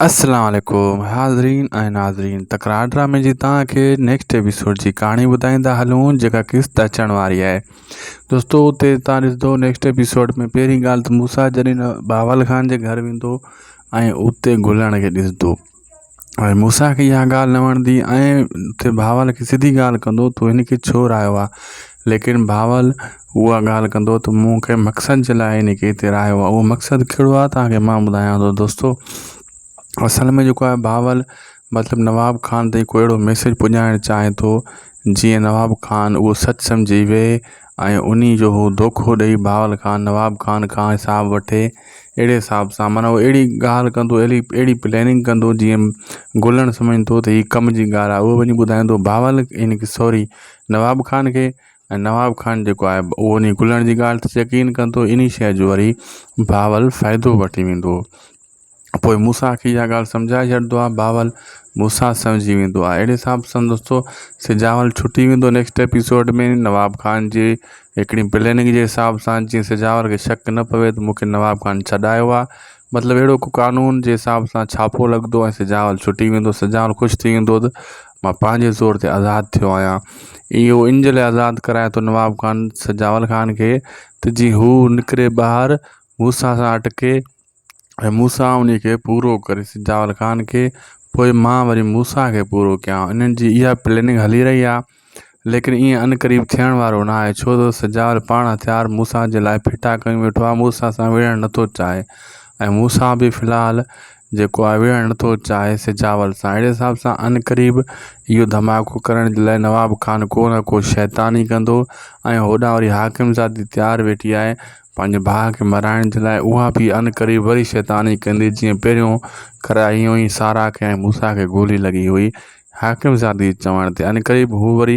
اسلام عليڪم حاضرين ۽ ناظرين تڪرار ڊرامي جي تان کي نيڪسٽ ايپيسوڊ جي ڪهاڻي ٻڌائيندا هلون جيڪا قسط اچڻ واري آهي دوستو اتي تان ڏسندو نيڪسٽ ايپيسوڊ ۾ پهرين ڳالهه ته موسا جڏهن باول خان جي گهر ويندو ۽ اتي گلڻ کي ڏسندو ۽ موسا کي اها ڳالهه نه وڻندي ۽ اتي باول کي سڌي ڳالهه ڪندو تو هن کي ڇو رايو آ ليڪن بهاول اها ڳالهه ڪندو ته مون کي مقصد جي لاء هن کي هتي رهايو آهي اهو مقصد ڪهڙو آهي توهان کي مان ٻڌايان ٿو دوستو اصل ۾ جيڪو آهي بهاول مطلب نواب خان تائين ڪو اهڙو ميسيج پڄائڻ چاهي ٿو جيئن نواب خان اهو سچ سمجهي ويهي ۽ انهي جو هو دوکو ڏئي بهاول خان نواب خان کان حساب وٺي اهڙي حساب سان معنيٰ هو اهڙي ڳالهه ڪندو اهڙي اهڙي پلاننگ ڪندو جيئن گولڻ سمجهندو ته هي ڪم جي ڳالهه آهي اهو وڃي ٻڌائيندو بهاول ان کي سوري نواب خان کي ۽ نواب خان جيڪو آهي اهو انهي کلڻ جي ڳالهه تي يقين ڪندو انهي شيء جو وري بهاول فائدو وٺي ويندو پوء موسيٰ کي اها ڳالهه سمجهائي ڇڏدو آهي بهاول موسيٰ سمجهي ويندو آهي اهڙي حساب سان دوستو سجهاول ڇٽي ويندو نيڪسٽ ايپيسوڊ ۾ نواب خان جي هڪڙي پليننگ جي حساب سان جيئن سجهاول کي شڪ نه پوي ته مونکي نواب خان ڇڏايو آهي مطلب اهڙو ڪو قانون جي حساب سان ڇاپو لڳدو ۽ سجهاول ڇٽي ويندو سجهاول خوش ٿي ويندو ته مان پنهنجي زور تي آزاد ٿيو آهيان اهو ان جي لاء آزاد ڪرايو اٿو نواب خان سجاول خان کي ته جيئن هو نڪري ٻاهر موسيٰ سان اٽڪي ۽ موسيٰ ان کي پورو ڪري سجاول خان کي پوء مان وري موسيٰ کي پورو ڪيان انهن جي اها پليننگ هلي رهي آهي ليڪن ائين عنقريب ٿيڻ وارو ناهي، ڇو ته سجاول پاڻ هٿيار موسيٰ جي لاء ڦٽا ڪيون ويٺو آهي، موسيٰ سان وڙهڻ نٿو چاهي ۽ موسيٰ به في الحال جيڪو آهي وڙهڻ نٿو چاهي سجاول سان، اهڙي حساب سان عنقريب اهو ڌماڪو ڪرڻ جي لاء نواب خان ڪو نه ڪو شيطان ئي ڪندو ۽ هوڏانهن وري حاڪمزادي تيار ويٺي آهي پنهنجي ڀاء کي مرائڻ جي لاء، اها به عنقريب وري شيطان ئي ڪندي، جيئن پهريون ڪرايئي هئائين سارا کي ۽ موسيٰ کي گولي لڳي هئي، حاڪم زادي جي چوڻ تي عنقريب هو وري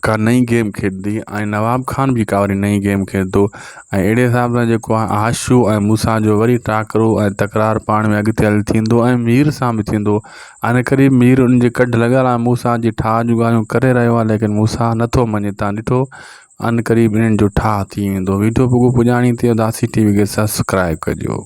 ڪا نئين گيم کيڏندي ۽ نواب خان به ڪا وري نئين گيم کيڏندو ۽ اهڙي حساب سان جيڪو آهي آشو ۽ مون سان جو وري ٽاڪرو ۽ تڪرار پاڻ ۾ اڳتي هلي ٿيندو ۽ مير سان به ٿيندو عنقريب مير ان جي ڪڍ لڳل آهي مون سان جي ٺاهه جون ڳالهيون ڪري رهيو آهي ليڪن مون سان نٿو مڃي تان ڏٺو عنقريب انهن جو ٺاهه ٿي ويندو ويڊيو پڳو پڄاڻي تي اداسي ٽي وي کي سبسڪرائب ڪجو